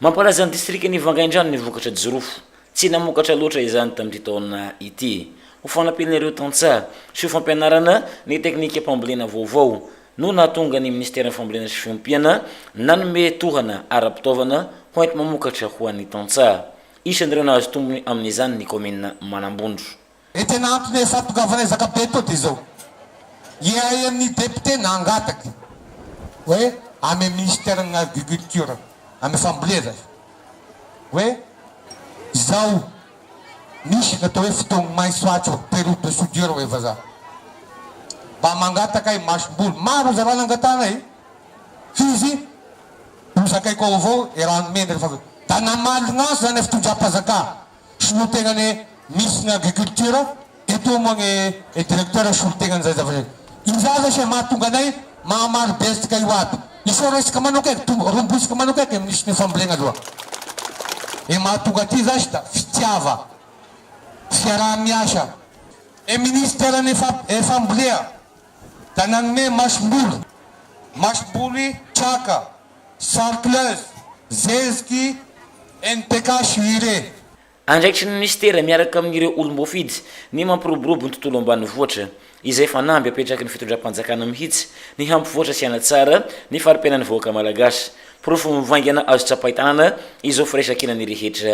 Mampalaza ny distrikan'i Vangaindrano ny vokatra jirofo. Tsy namokatra loatra izany tamin'ity taona ity. Ho fanampiana ireo tantsaha sy ho fampianarana ny teknikam-pambolena vaovao no nahatonga ny minisiteran'ny Fambolena sy Fiompiana nanome tohana ara-pitaovana hoenti-mamokatra ho an'ny tantsaha. Isan'ireo nahazo tombony amin'izany ny kaominina Manambondro. e tena antony efa tongavana ezaka be to de izao ihay amin'ny député nangataky hoe amy ministère ny agriculture amy fambolena hoe izao misy natao hoe fitogny maiso atsy période de soudure hoe vazaha mba mangataka ahy masom-bolo maro zalahy nangatahanay fizy ho zakaiko ao avao e rano mena rehefa avy eo da namaly gnasa zany fitondram-pazaka Solotena ny Miss ny Agriculture eto moa ny Directeur solotena an'izay zavatra izay. Io zany lesy e mahatonga anay mahamaro betsika io aby. Iseho resaka manoka e, to- rombosiko manoka eky e Miss ny fambolena aloha. Ny mahatonga aty zasy da fitiava, fiaraha-miasa. Ny Ministère ny fa- ny fambolea da nanome masom-boly, masom-boly traka, Chartreuse, Zeziky, NTK sy Hire. Andraikitry ny minisitera miaraka amin'ireo olom-boafidy ny mampiroborobo ny tontolo ambanivohitra, izay fanamby apetraky ny fitondram-panjakana mihitsy ny hampivoatra sy hanatsara ny fari-piainan'ny vahoaka malagasy. Porofo mivaingana azo tsapain-tanana izao firaisankinan'ny rehetra.